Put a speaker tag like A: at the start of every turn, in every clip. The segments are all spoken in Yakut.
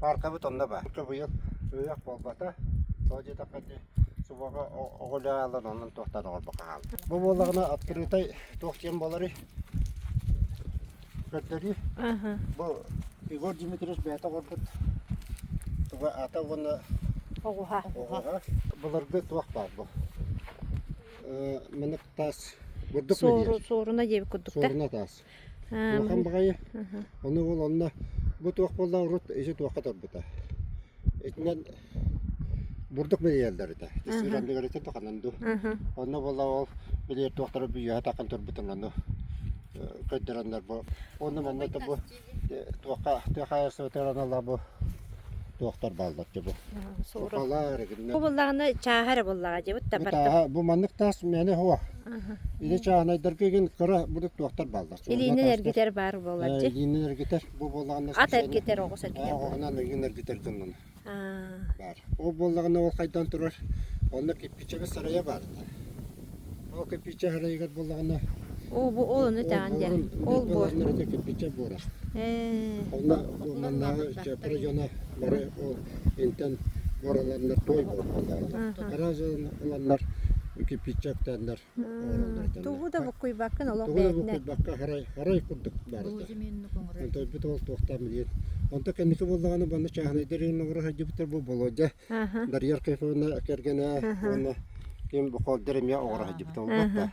A: Пааркабыт онно баар. Субуйан ыйах буолбата, тоҕо диэтэххэ ити субуоха оҕо үлэ аалан онон туохтан оҕорбохо хаалла. Бу буоллаҕына открытай туох диэн буоларый? Көрдөрүү. Бу Егор Дмитриевич бэйэтэ оҥорбут туга аата уонна оҕуһа.
B: оҕуһа.
A: Былыргы туох баар бу? Манык таас бурдук Суору, сууруна диэбит
B: курдук да. Сууруна таас.
A: Улахан баҕайы ону уол онно бу туох буолла урут ити туохха турбута. Итинэн бурдук билиэллэр этэ. Тисир андыгырытын тоханан ду. Онно буолла ол билиэр туохтара бүйүһэ такан турбутун ону көйдөрөннөр бу. Онно манна это бу туохха тыахаайарсыбытар аналла бу туохтар бааллар те бу. Сорох. Балар гинна. Бу буллаҕына чааһара
B: буллаҕа дьебут да бартым. Бу маннык таас
A: мэне хуа. Ити чааһынайдарга игин кыра будут туохтар бааллар. Илиинин эргитэр баар
B: буолар дьи. Илиинин эргитэр бу
A: буоллаҕына. Ат эргитэр оҕус
B: эргитэр. Оҕуһунан игин эргитэр
A: гыннын. Бар.
B: Ол буоллаҕына
A: ол хайдан турар онно киппичэгэ сарайа бар. Ол киппичэ сарайыгар буоллаҕына. Ол бу ол
B: ону тәгэн дьэ. Ол бу. Ол киппичэ буора.
A: Онна маннааҕы района бары ол Антон оҕоролорунар туой буоллулар. Хара дьылын ыланнар киппиччэ октааннар оҕороллоруттан.
B: Тугу да буккуйбаккын олох Тугу да бээтнэ. буккуйбакка харай харай
A: курдук баарыта. Антойбут ол туохтаан билиэн. Онто кэнники буоллаҕына баны чааһынайдар иһин оҕоро хайдыбыттар бу болодя. Дарьяр Кайфовна кэргэнэ уонна ким букалдар эмиэ оҕоро хайдыбыт олбатта.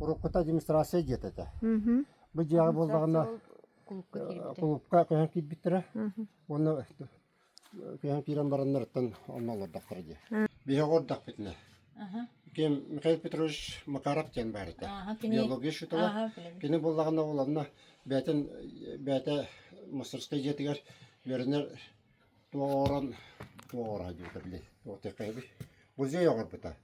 A: уруккута администрация диэт этэ. Бу дьиэҕэ буоллаҕына кулуупка көһөн киирбиттэрэ. Уонна көһөн киирэн бараннарыттан онно олордохтара дии. Биһиги олордохпутуна. Ким Михаил Петрович Макаров диэн баар этэ. Биология учуутала. Кини буоллаҕына уланна бээтин бээтэ мастерскай дьиэтигэр үөрэнэр туоҕорон туоҕора диэтэ били. Туоттайкайби. Музей оҕорбута.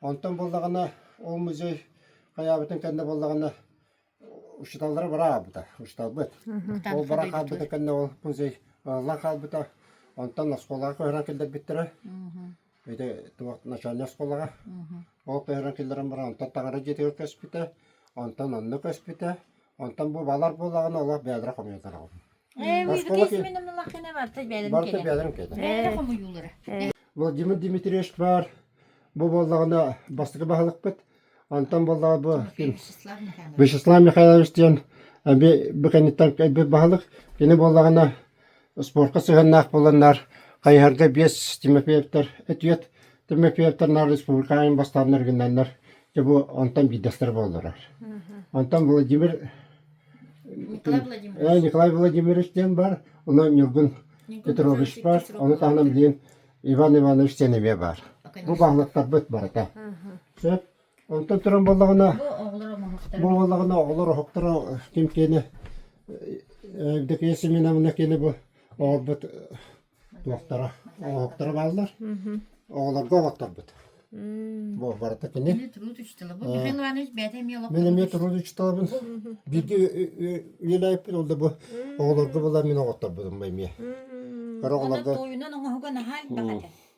A: Онтон буоллаҕына ол музей хайаабытын кэннэ буоллаҕына учиталлара бара хаалбыта учиталбыт. Ол бара хаалбыта кэннэ ол музей ыллан хаалбыта. Онтон оскуолаҕа көһөрөн киллэрбиттэрэ. Ити туох начальнай оскуолаҕа. Ол көһөрөн киллэрэн баран онтон таҥара дьиэтигэр көспүтэ. Онтон онно көспүтэ. Онтон бу балар буолаҕына олох бэйэлэрэ хомуйатараҕым. Э, Осколок
C: миигитис мен умнулаххына барта бэйэлэрин барыта кэтэн. бэйэлэрин кээтэ. Бэйэлэрэ хомуйуулара. Бұл Димир
A: Дмитриевич бар. Бу боллаҕына бастакы баһылыкпыт. Онтон боллаҕа бу ким Вячеслав Михайлович. Вячеслав Михайлович диэн эби бу кэнниттэн кэлбит баһылык. Кини боллаҕына Спортка сыһыаннаах буоланнар, хайыһарга биэс Тимофеевтар этиет, Тимофеевтарнар республикаайын бастааннар гыннаннар, дьэ бу онтон биирдэстэр буоллулар. Онтон Владимир Николай Владимирович. Э, Николай Владимирович диэн бар, ону Ньургун Петрович бар, ону таһынан билин Иван Иванович Сеневе бар. Бу баһылыктарбыт барыта. Сөп Онтон туран буоллаҕына, бу буоллаҕына оҕолор оһохторо ким киэнэ Евдокия Семеновна киэнэ бу оҕорбут туохтара оһохторо бааллар. Оҕолорго оҕотторбут. Бу барыта кини. Мен трудович тылы. Бу Михаил
C: Иванович бэйэтэ эмиэ олох. Мен эмиэ трудович тылабын.
A: Бииргэ үлэлээппин ол да бу оҕолорго була мин оҕотторбутум эмиэ. Кара оҕолорго. Тойунан
C: оҥоһуга наһаан
A: баҕата.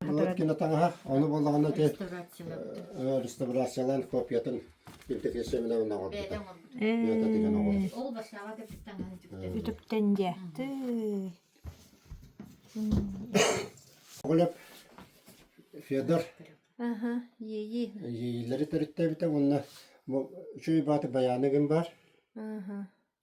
B: Былыт кино
A: таҥаһа, ону буоллаҕына ити
C: реставрациялаан
A: копиятын импресеменен оҥорбута. Мята деген
C: оҥорбута.
A: Ол башкаҕа да
C: таҥаһы үтүктэн.
B: Үтүктэн
A: дьэ. Оголеп Федор
B: Аха, ии. Иилэри
A: төрүттээбитэ уонна бу үчүй бааты баяны гын бар. Аха.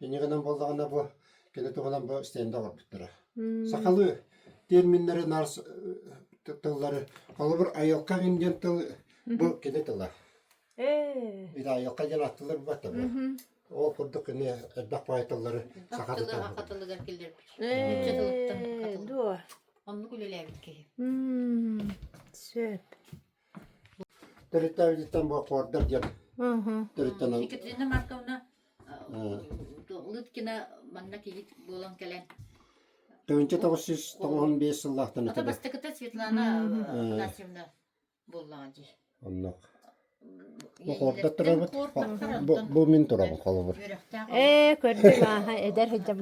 A: Инньэ гынан буоллаҕына бу кини туһунан бу стенды оҥорбуттара. Сахалыы терминнэри нарс э, тыллары холобур айылка индиан тыл бу кини тыла. Э. Ити айылка диэн аттылар бата бу. Ол курдук кини элбэх баай тыллары саха тылынан хатан да киллэрбит. Үччэ
C: тылыттан хатан.
B: Дуо. Оннук үлэлээбит
C: киһи.
B: Сөп.
A: Төрүттээбититтэн бу аккордар диэн төрүттэнэн Екатерина
C: Марковна Лыткина манна киһит буолан кэлэн тыһыынча тоҕус жүз
A: тоҕуһун биэс сыллаахтан ата бастакыта
C: Светлана
A: Игнатьевна буоллаҕа дии оннук бу мин турабын холобур ээ көрдүм
B: ааха эдэр сыдьам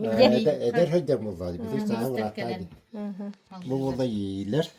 B: эдэр сыдьам буоллаа
A: битик сааһын бырааттаа бу буола иилэр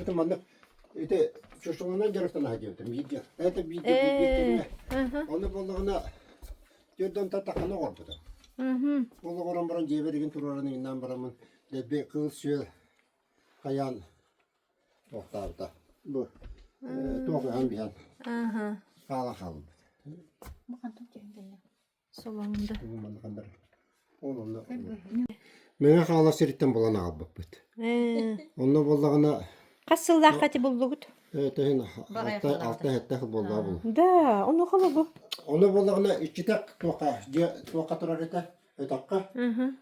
A: Это манна ити шашлыгынан дьарыктанаһа диэбитим биирдиэн. Это биирдиэн биирдиэн кэннэ. Ону буоллаҕына түөрт онта тахана оҕорбутум. Ол оҕорон баран дьиэбэригин туруоран иҥнаан бараммын лэби кыыл сүөл хайаан тоохтаабыта. Бу туох ыһан биһэн хаалан хаалбыт. Мэҥэ Хаалас сириттэн булан аҕалбыппыт. Онно буоллаҕына Хас сыллаахха
B: ити буллугут? төһөн
A: алта алта сэттэх буоллаҕа булу. Да, ону холобу.
B: Ону буоллаҕына
A: иччитэх туохха дьиэ туохха турар этэ өтөххө.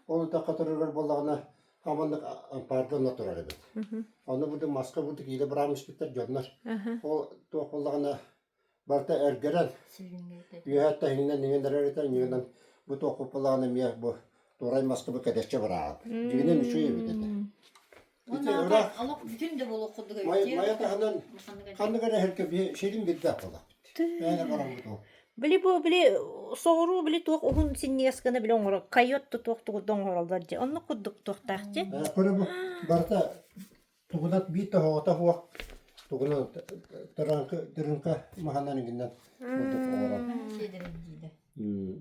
A: Ол өтөххө турарыгар буоллаҕына хаманнык ампаардана турар эбит. Ону бу маска бу киилэ быраам испиттэр дьоннор. Ол туох буоллаҕына Барыта эргэрэн, үөһэ
C: тэһининэн иҥэн
A: эрэр этэ, ньыгынан бу туох куппалаҕын эмиэ бу туорай маскабы кэдэччи бырааҕын. Дьигинин үчүгэй эбит этэ. Ити ыраах
C: олох бүтүн да буолуох курдук Майа Майа таһынан
A: ханнык эрэ эһэлгэ биһи сирин билбэх буолабыт. Мээнэ хараммыт ол. Били бу били
B: соҕуруу били туох уһун синньигэс гына били оҥоро койот да туох тугу да оҥороллор дьэ. Оннук курдук туохтаах дьэ. Көрө бу
A: барыта Тугунат биир тоһоҕото суох тугунан тырыҥка тырыҥка маһынан иҥинэн курдук оҥорон.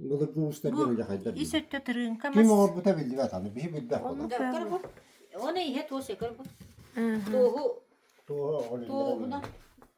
C: Былыргы
A: уустар диэн дьахайдар ис өттө тырыыҥка мас.
B: Ким оҥорбута биллибэт
A: аны биһи билбэх буолар. Дьоккор бу.
C: Оны иһэ туос өкөр бу. Туоһу Туоһа
A: оҕолунна. туоһунан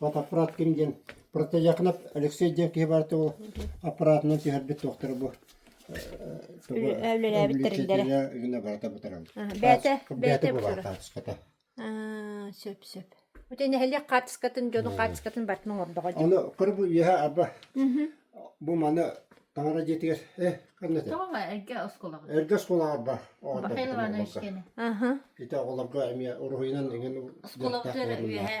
A: Фотоаппарат ким диэн протезякнап Алексей диэн киһи баар ол аппаратынан түһэрбит туохтара бу
B: үллээбиттэриллэрэ гына барата
A: бутарабыт бэйэтэ бэйэтэ
B: баартыската
A: сөп
B: сөп Бути нэһилиэк хаартыскатын дьону хаартыскатын бартынан ордоҕо дии. Аны кырбы үөһэ
A: аба бу маны таҥара дьиэтигэр э ханна те? Тоҕо эргэ
C: осколаҕа. Эргэ осколаҕар ба.
A: Бахайлованы өскені.
C: Ити
B: оҕолорго
A: эми уруһуйунан эҥен осколаҕылар үөһэ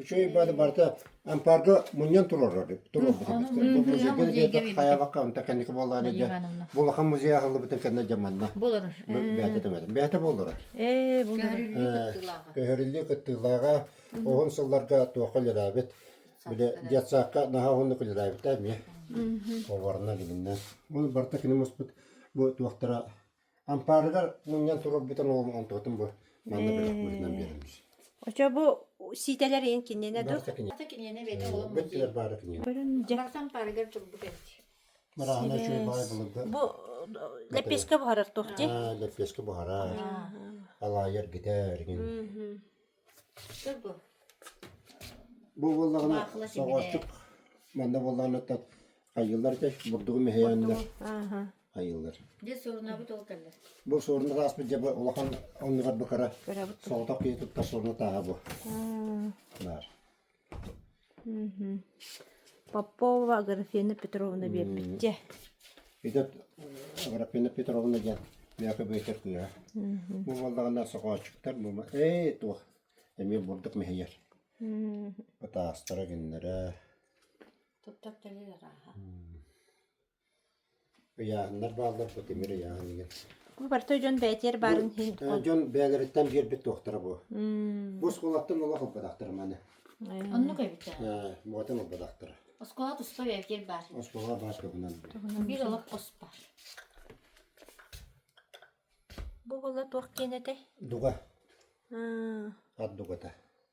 A: Үчүгэй баады барыта ампаарга мунньан туруорар туруорбут эмистэр. Бу музейга диэтэ хайабакка онта кэнники буоллаан эдэ булахан музей аһыллыбытын кэннэ дьаманна. Болорор. Бэйте
C: төмөтө.
A: Бэйте болорор. Ээ,
B: Көһөрүллүү
A: кыттыылааҕа оһун сылларга туохха үлэлээбит. Биле детсаакка наһаа оһуннук үлэлээбит эмиэ. Поварынан илиннен. Оны барта киним успут бу туохтара Ампаарыгар мунньан турарбытын оҕом онтубатын бу манна бөлөх быһыытынан биэрэммит. Очо бу
B: сиитэлэр ин киниэнэ дур. Барата киниэнэ бэйэтэ
A: олом
C: Бүттүлэр баара киниэнэ. Бөрүн
A: дьэ. Баратан парыгар
B: турбут
C: эбит. Мараана үчүгэй
A: баай былырды. Бу
B: лепешка буһарар туох ди? Аа, лепешка буһара.
A: Алаайар гитэ эргин. Бу буоллаҕына соҕуостук манна буоллаҕына тот хайыылар этэ бурдугу мэһэйээннэр
B: хайыылар.
C: Дьэ суорунабыт ол кэллэр.
A: Бу суорун ааспыт дьэ улахан оннугар бу кыра соҕотох киһи
B: туттар
A: суоруна тааһа бу. Баар.
B: Попова Аграфена Петровна биэрбиттэ. Ити
A: Аграфена Петровна диэн бэйэхэ бэйтэр кыыһа. Бу буоллаҕына сокоочуктар бу ээ туох эмиэ бурдук мэһийэр. Пытаастара гиннэрэ.
C: Туттар төлүлэр аха.
A: Ыйааһыннар бааллар бу тимир ыйааһын игин. Бу барыта дьон
B: бээтиэр баарын иһин Э, дьон бэйэлэриттэн
A: биэрбит туохтара бу. Бу оскуолаттан олох ылбатахтар маны. Оннук
C: эбитэ. Э, буотан
A: ылбатахтар. Оскуола тустой эбитиэр
C: баар. Оскуола баар көбүнэн.
A: Bir олох ос
C: бар.
B: Бу була туох киэн этэй? Дуга,
A: А, ат дугата.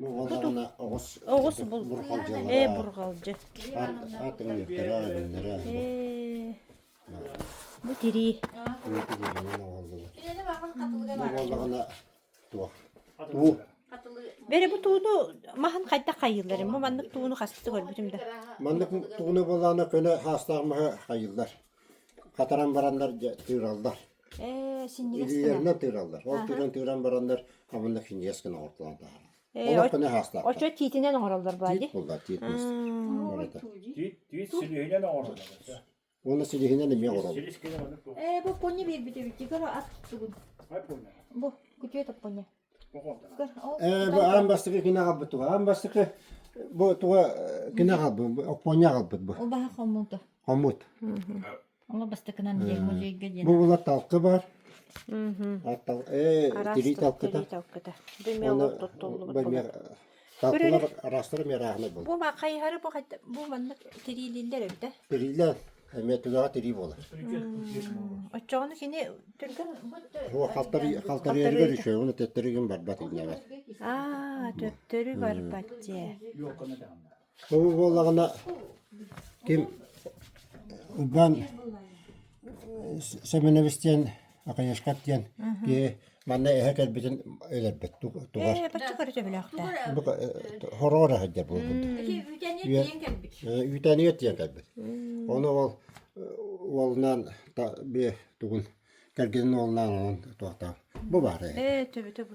A: Оҕо даҕаны оҕус оҕус бу Бурҕалдьылара,
B: ээ бурҕалдьы ат
A: атырыйыктара, өлүннэрэ Э,
B: бу тирии тигиринэн
C: оҕоллулар. Оҕоллоҕуна туох?
A: Уу
B: бери бу тууну маһын хайдах хайыылларын бу маннык тууну хастык көрбүтүм да Маннык тууна
A: буолаана көнө хаастаах маһы хайыллар. Хатаран бараннар дьэ тыыраллар. Ээ, синньигэс
B: Илиилэринэн тыыраллар.
A: Ол тыынан тыыран бараннар хаманна киньиэс гына оҥортолоон таһаараллар. Олох гына аһаахтаахтар. Очо тиитинэн оҥороллор
B: бааллар. Тиит буллар, тиит муус. Барыта.
A: Тиит, тиит силиһинэн оҥороллор.
D: Уонна
A: силиһинэн эмиэ оҥороллор. Силис гына маннык туох.
D: Э, бу поння биэрбит эбит.
C: Дигоро ат тугун.
D: Бу, күтүөт
C: оппоня. Аан бастакы
A: кине аҕалбыт туга аан бастакы бу туга кине аҕалбыт Оппоня аҕалбыт бу ол баха хоммута
C: хоммут
A: ол
C: бастакынан музейге диэн бу булар талка
A: бар тирий талкыта бумеолог туттуллубут Саппылар араастар эмиэ арааһынай буолар. Бу ма хайыһары бу хайта
B: бу маннык тириилииллэр өрдө. Тириилээн
A: эмиэ төбөҕө тирии буолар.
B: Оччоҕуна кини түргэн О халтарый
A: халтарыырыгар үчүөҕүн төттөрүгүн барбат иннэбэр. Аа төттөрү
B: барбат дьэ.
D: Ол буоллаҕына
A: ким Уган Семенович диэн Акаешкат диэн киһи манна эһэ кэлбитин өлөрбүт тугар. Э, бачча көрө
B: сөбүлэөхтэ.
A: Хороҕор сылдьар буолбут. Үүтэнигэ тиийэн кэлбит. Оны ол уолунан бе тугун кэргинин уолунан онон туохтаах бу баар. Э, төбөтө бу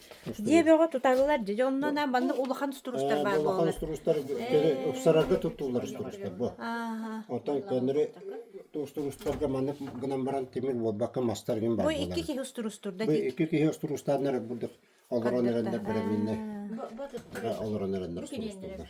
B: дьиэ бөҕө туталлар дьэ онно манна улахан струстар баар буолар улахан струстар ыксарарга
A: туттуллар струстар бу оттон көннөрү струстарга маннык гынан баран тимир буолбакка мастар гин баар бу икки киһи струстур
B: да бу икки киһи
A: струстаннар бурдук олорон эрэннэр бэрэбиннэр олорон эрэннэр струстуллар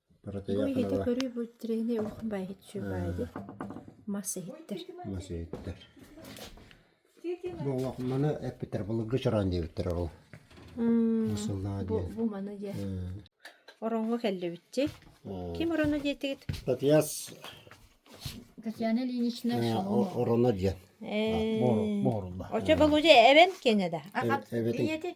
A: Бырайыагы көрүү
B: бу тирэһинэй
A: олох
B: баайыһыччы баайы мас иһиттэр. Мас иһиттэр.
A: Бу олох маны эппиттэр былыргы чораан диэбиттэр ол. Сыллаҕа диэн. Бу маны диэн.
B: Ороҥҥо кэллибитти. Ким ороно диэтигит? Татьяс.
C: Татьяна Ильинична Шаломова. Ороно диэн.
A: Бу
B: орулла. Очо Володя эбэн кене да. Эбэтин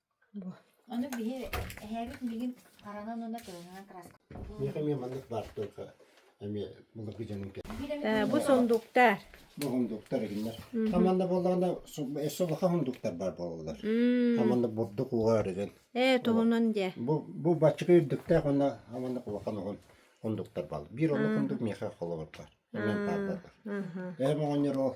C: Ону биһи эһээбит миигин харанан уонна
A: тыаһынан краскалыыр. Миэхэ эмиэ маннык баар туойха эмиэ былыргы дьонум Э, бу сундууктар.
B: Бу хундуктар
A: эгиннэр. Хаманна буоллаҕына өссө улахан хундуктар баар буолаллар. Хаманна бурдук уугаар ирэн. Ээ, туһунан дьэ.
B: Бу бу баччыка
A: үрдүктээх уонна хаманна улахан уһун хундуктар баал. Биир онно хундук миэхэ холобур баар. Эмиэн баар бааллар. Эһэм оҕонньор ол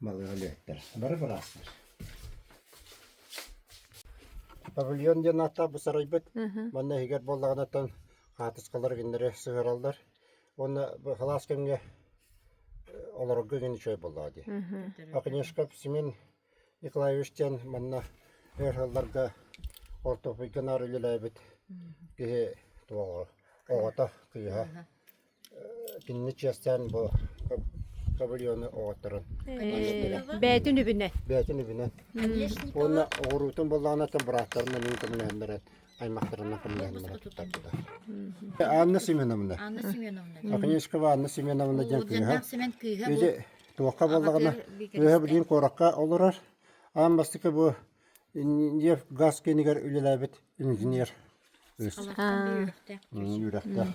B: Балыга
A: өлүөттэр. Бары быраастар. Павильон диэн аата бу сарайбыт манна иһигэр буоллаҕынаттан хаатыскалар гиннэри сыһыараллар. Уонна халаас кэмҥэ олорорго гин үчүгэй буоллаҕа дии. Оконешка Семен Николаевич диэн манна эр сылларга ортопуйга наар үлэлээбит киһи оҕото, кыыһа. Кинини чиэстээн бу кабальоны оҕотторун
B: бээтин үбүнэн бээтин үбүнэн
A: уонна оҕуруутун быллаанаттан бырааттарынан үүн көмөлөһөн баран аймахтарынан көмөлөһөн баран туттарбыта. Анна Семеновна. Анна Семеновна.
C: Оконешкова Анна
A: Семеновна диэн кыыһа. Ити
C: туохха
A: буоллаҕына үөһэ билиин
C: куоракка
A: олорор. Аан бастакы бу нефть газ киинигэр үлэлээбит инженер үс.
C: Үөрэхтээх.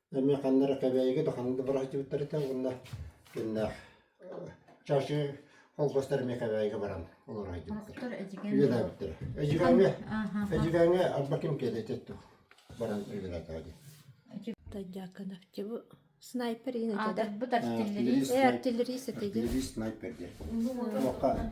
A: эмиэ ханнара кэбээйигэ да ханна да бара сылдьыбыттар этэ уонна кинилээх чашы холкуостар эмиэ кэбээйигэ баран олоро сылдьыбыттар
C: үлэлээбиттэрэ
A: эдьигээҥҥэ эдьигээҥҥэ арба ким киэлэйдэ баран үлэлээтэҕэ дии Тайдяканавтиву
B: снайпер ин этеде. Артиллерист.
C: Артиллерист этеде.
B: Артиллерист снайпер
A: диир. Охха.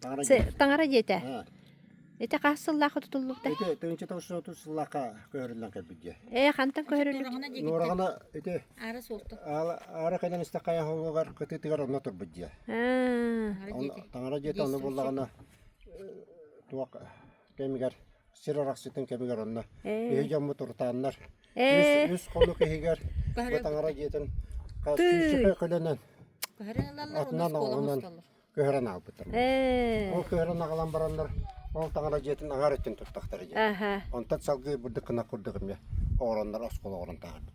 B: Таҥара Се- дьиэтэ. Таҥара дьиэтэ. А,
A: Ити хас
B: сыллаах тутуллубута? Ити тыһыынча тоҕус отут
A: сыллаахха көһөрүллэн кэлбит дьиэ. Ээ, хантан көһөрүллүбүт?
B: Нуораҕана диэкиттэн. Нуораҕана ити
A: Ара суохта.
C: аала аара кэлэн истэх
A: хайа хоһугар кытыытыгар онно турбут дьиэ. Аа, Таҥара Онно- дьиэтэ. Таҥара дьиэтэ Дьиэ онно сум- буоллаҕына э, туох кэмигэр сир арахсытын кэмигэр онно э. биһи дьоммут урутааннар э. үс хонук иһигэр Бытаҥара дьиэтин күүсчүкэ көлөнөн
C: атынан оҕунан
A: көһөрөн аалбыттар. Ол көһөрөн аҕалан бараннар ол таҥара дьиэтин аҥар өттүн туттахтар дии. Онтон салгыы
B: бурдук
A: кынак курдук эмиэ оҕороннор оскол оҕорон тааҕырбыт.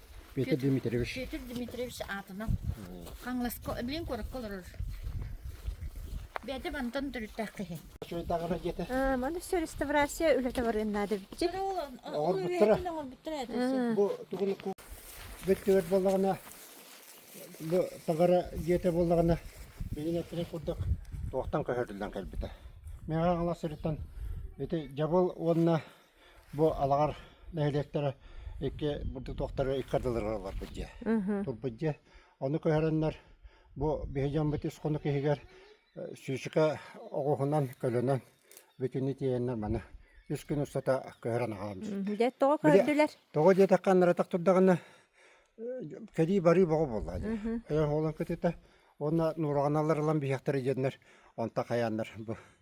C: Петр
A: Дмитриевич. Петр Дмитриевич
C: аатынан Хаҥласка, блин куоракка олорор. Бэдэ бантан төрүттээх киһи. Чуйдаҕына диэтэ.
A: А, маны все реставрация
B: үлэтэ барыан наада бит. Оҥорбуттара.
A: Оҥорбуттара этэ. Бу тугун бөттүгэр боллаҕына бу таҕара диэтэ боллаҕына билин эттине курдук туохтан көһөрүллэн кэлбитэ. Миэхэ Аҥала сырыттан ити Дьабыл уонна Бу Алаҕар нэһилиэктэрэ икки бурдук туохтары ыккардылара олорбут дьиэ. Турбут дьиэ. Ону көһөрөннөр бу биһи дьоммут ис хонук иһигэр сүүсүкэ оҕуһунан көлөнөн бүтүнү тиэйэннэр маны үс күн устата көһөрөн аҕаламмыт. Дьэ тоҕо көрдүлэр?
B: Тоҕо диэтэххэ анарытах
A: турдаҕына кэлии-барыы боҕо буолла дьэ. Ойох уолан кытыта уонна нуураҕаналар ылан биһиэхтэрэ диэннэр онто хайааннар бу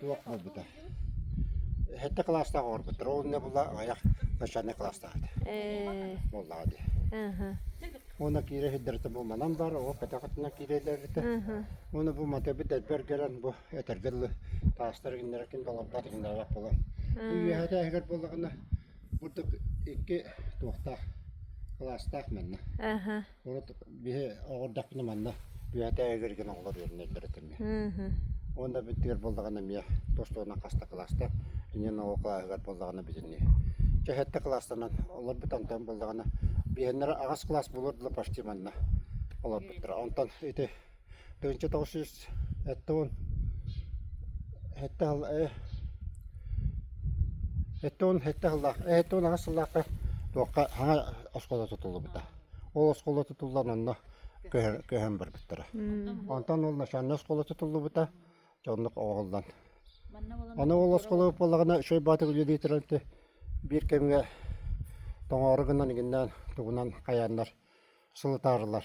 A: Туох буолбута? Хэттэ кылаастаах оҕорбут. Ровня була аҕыйах начальнай кылаастаах этэ. Э, Буоллаҕа дии. Аха, Уона киирэ хиддэрэтэ бу манан бар, оҕо көтөҕөтүнэн киирэлэритэ. аха. Уону бу матабыт элбэр гэрэн бу этэргэ дылы таастар гиннерекин долорбат гиннеребат болон. Бу үөһэтэ эһигэр буоллаҕына, бурдук икки туохтаах кылаастаах манна. Аха, Урут биһи оҕордохпуна манна түһээтэ эгэр гин оҕолор үөрэнэллэр этэ эмиэ. Уонна бүттүгэр буоллаҕына эмиэ тостуонан хаста кылаастар иннин оҕо кылааһыгар буоллаҕына битинни. Чэһэтте кылаастанан олорбут онтон буоллаҕына биһэннэр аҕас кылаас булур дылы почти манна олорбуттара. Онтон ити Тыһыынча тоҕус сүүс эттэ уон эттэ сыл эттэ уон эттэ сыллаах эттэ уон аҕыс сыллаахха туохха саҥа оскуола тутуллубута. Ол оскуола тутуллан онно көһөн көһөн барбыттара. Онтон ол начальнай оскуола тутуллубута дьоннук оҕоллон. Аны ол оскуола буоллаҕына Өшөй Баатыр үлэлиитирэлти биир кэмҥэ тоҥоору гынан игиннээн тугунан хайааннар сылытаарылар.